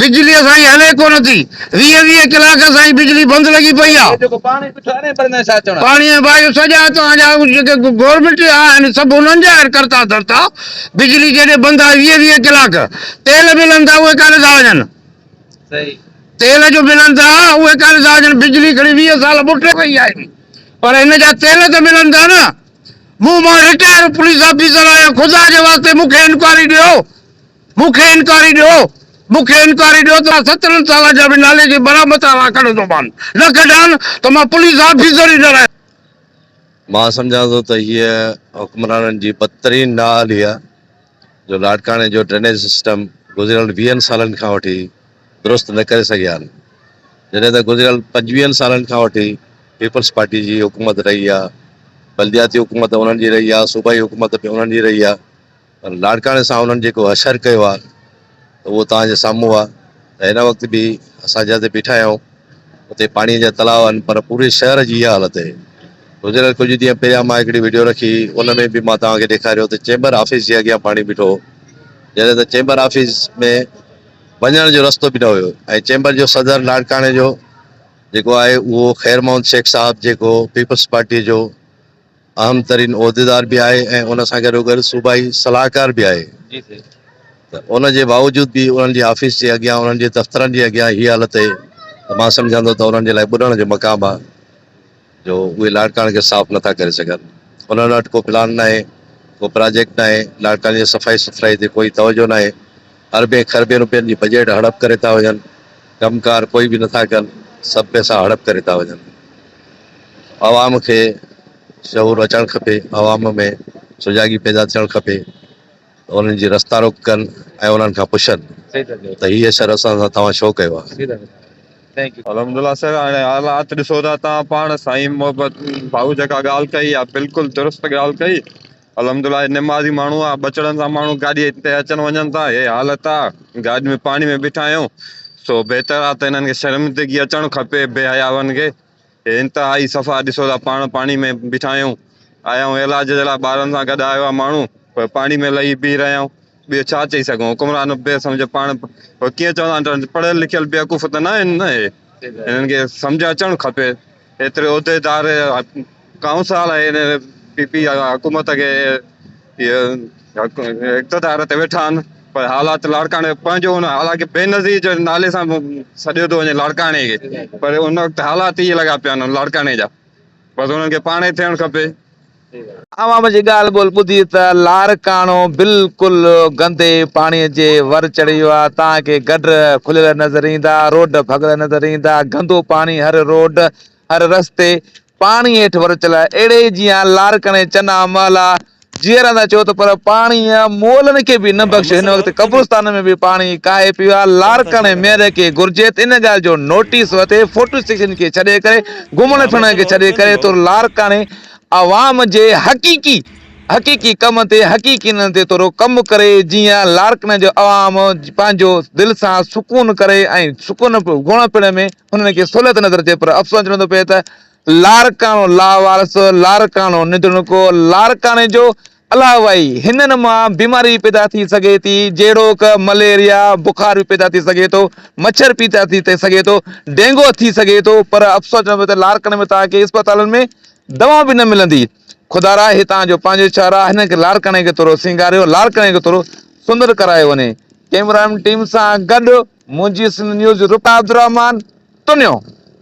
بجلي اسان جي هلي ڪو نه ٿي. ويهه ويهه ڪلاڪ اسان جي بجلي بند لڳي پئي آ. پاڻي ۽ واء جو سڄا اتان جا جيڪي گورنمينٽ جا آهن سڀ انهن جا آهن ڪرتا ڌرتا. بجلي جيڏي بند آهي ويهه ويهه ڪلاڪ. تيل بل اندا اهي ڪاڏي ٿا وڃن. تيل جو بل اندا اهي ڪاڏي ٿا وڃن. بجلي کڻي ويهه سال ٻوٽي وئي آهي پئي پر هن جا تيل ته ملن ٿا نه. مون مان رٽائر پوليس آفيسر آهيان خدا جي واسطي مون کي انڪوائري ڏيو. مون کي انڪوائري ڏيو، مون کي انڪوائري ڏيو ته مان سترهن سالن جا به نالي جي برا مٿان ران ڪڍندومان، نه ڪڍان ته مان پوليس آفيسر ئي نه رهندس. مان سمجهان ٿو ته هيء حڪمرانن جي بدترين نااهلي آهي جو لاڙڪاڻي جو ڊرينيج سسٽم گذريل ويهن سالن کان وٺي درست نه ڪري سگهيا آهن، جڏهن ته گذريل پنجويهن سالن کان وٺي پيپلز پارٽي جي حڪومت رهي آهي، بلدياتي حڪومت انهن جي رهي آهي، صوبائي حڪومت به انهن جي رهي آهي. پر لاڙڪاڻي سان انهن جيڪو حشر ڪيو آهي ته اهو توهان جي سامهون آهي ته هن وقت به اسان جتي بيٺا آهيون اتي پاڻيء جا تلاء آهن پر پوري شهر جي اها حالت آهي. گذريل ڪجهه ڏينهن پهريان مان هڪڙي وڊيو رکي ان ۾ به مان توهان کي ڏيکاريو ته چيمبر آفيس جي اڳيان پاڻي بيٺو هو جڏهن ته چيمبر آفيس ۾ وڃڻ جو رستو به نه هيو ۽ چيمبر جو صدر لاڙڪاڻي جو جيڪو آهي اهو خير محمد شيخ صاحب جيڪو پيپلز پارٽيء جو اهم ترين عهديدار به آهي ۽ ان سان گڏو گڏ صوبائي صلاحڪار به آهي ته ان جي باوجود به انهن جي آفيس جي اڳيان انهن جي دفترن جي اڳيان هي حالت اهي ته مان سمجهان ٿو ته انهن جي لاء ٻڏڻ جو مقام آهي جو اهي لاڙڪاڻي کي صاف نٿا ڪري سگهن انهن وٽ ڪو پلان ناهي ڪو پراجيڪٽ ناهي لاڙڪاڻي جي صفائي سٿرائي تي ڪوئي توجهه ناهي. اربين کربين روپين جي بجيٽ هڙپ ڪري ٿا وڃن، ڪم ڪار ڪوئي به نٿا ڪن، سڀ پئسا هڙپ ڪري ٿا وڃن، عوام کي شعور اچڻ کپي، عوام ۾ سجاڳي پيدا ٿيڻ کپي ته انهن جي رستا روڪ ڪن ۽ انهن کان پڇن ته هي شھر اسان سان توهان ڇو ڪيو آهي. الحمدالله سر هاڻي حالات ڏسو ٿا توهان پاڻ سائين محبت ڀائو جيڪا ڳالهه ڪئي اها بلڪل درست ڳالهه ڪئي. الحمدالله هي نمازي ماڻهو آ ٻچڙن سان ماڻهو گاڏي تي اچن وڃن ٿا هي حالت آ گاڏي ۾ پاڻي ۾ بيٺا آهيون سو بهتر آ ته هنن کي شرمندگي اچڻ کپي بي حياون کي هي انتهائي صفا ڏسو ٿا پاڻ پاڻي ۾ بيٺا آهيون آيا آهيون علاج جي لاء ٻارن سان گڏ آيو آ ماڻهو پر پاڻي ۾ لهي بيهي رهيا آهيون ٻيو ڇا چئي سگهون؟ حڪمران بي سمجهه پاڻ اهو ڪيئن چوندا آهن ته پڙهيل لکيل بيوقوف ته نه آهن نه اهي. هنن کي سمجهه اچڻ کپي. ايتري عهديدار ڪائونسال ۽ هن پي پي آء حڪومت کي اهي اقتدار تي ويٺا آهن پر حالات لاڙڪاڻي پنهنجو هن حالانڪه بينظير جي نالي سان سڏيو ٿو وڃي لاڙڪاڻي کي پر ان وقت حالات ائين لڳا پيا آهن لاڙڪاڻي جا بس هنن کي پاڻ ئي ٿيڻ کپي. عوام جي ڳالهه ٻولهه ٻڌي ته لاڙڪاڻو بلڪل گندي پاڻي جي ور چڙهي ويو آهي. توهان کي گڊر کليل نظر ايندا، روڊ ڀڳل نظر ايندا، گندو پاڻي هر روڊ، هر رستي پاڻي هيٺ ورچيل آهي. اهڙي ئي جيان لاڙڪاڻي چنا محلا جيئرا اندر چئو ته پر پاڻي مئلن کي به نه بخشي. هن وقت قبرستانن ۾ به پاڻي ڪاهي پيو آهي. لاڙڪاڻي ميئر کي گهرجي ته ان ڳالهه جو نوٽيس وٺي فوٽو سيڪشن کي ڇڏي ڪري گهمڻ ڦرڻ کي ڇڏي ڪري طور لاڙڪاڻي عوام جي حقيقي حقيقي ڪم تي حقيقي نن تي ٿورو ڪم ڪري جيئن لاڙڪاڻي جو عوام پنهنجو دل سان سڪون ڪري ۽ سڪون گهمڻ ڦرڻ ۾ انهن کي سهولت نظر اچي پر افسوس چوڻو ٿو پئي ته لاڙڪاڻو لاوارث لاڙڪاڻو نڌڻڪو لاڙڪاڻي جو علاوهء هنن مان بيماري پيدا ٿي سگهي ٿي جهڙوڪ مليريا، بخار به پيدا ٿي سگهي ٿو، مڇر پيدا ٿي سگهي ٿو، ڊينگو ٿي سگهي ٿو پر افسوس چوندو ته لاڙڪاڻي ۾ توهان کي اسپتالن ۾ دوا به نه ملندي. خدارا هتان جو پنهنجو شهر آ هن کي لاڙڪاڻي کي ٿورو سينگاريو لاڙڪاڻي کي ٿورو سندر ڪرايو وڃي. ڪئميرا مين ٽيم سان گڏ منهنجي سنڌ نيوز رڪا عبدالرحمان تنيو.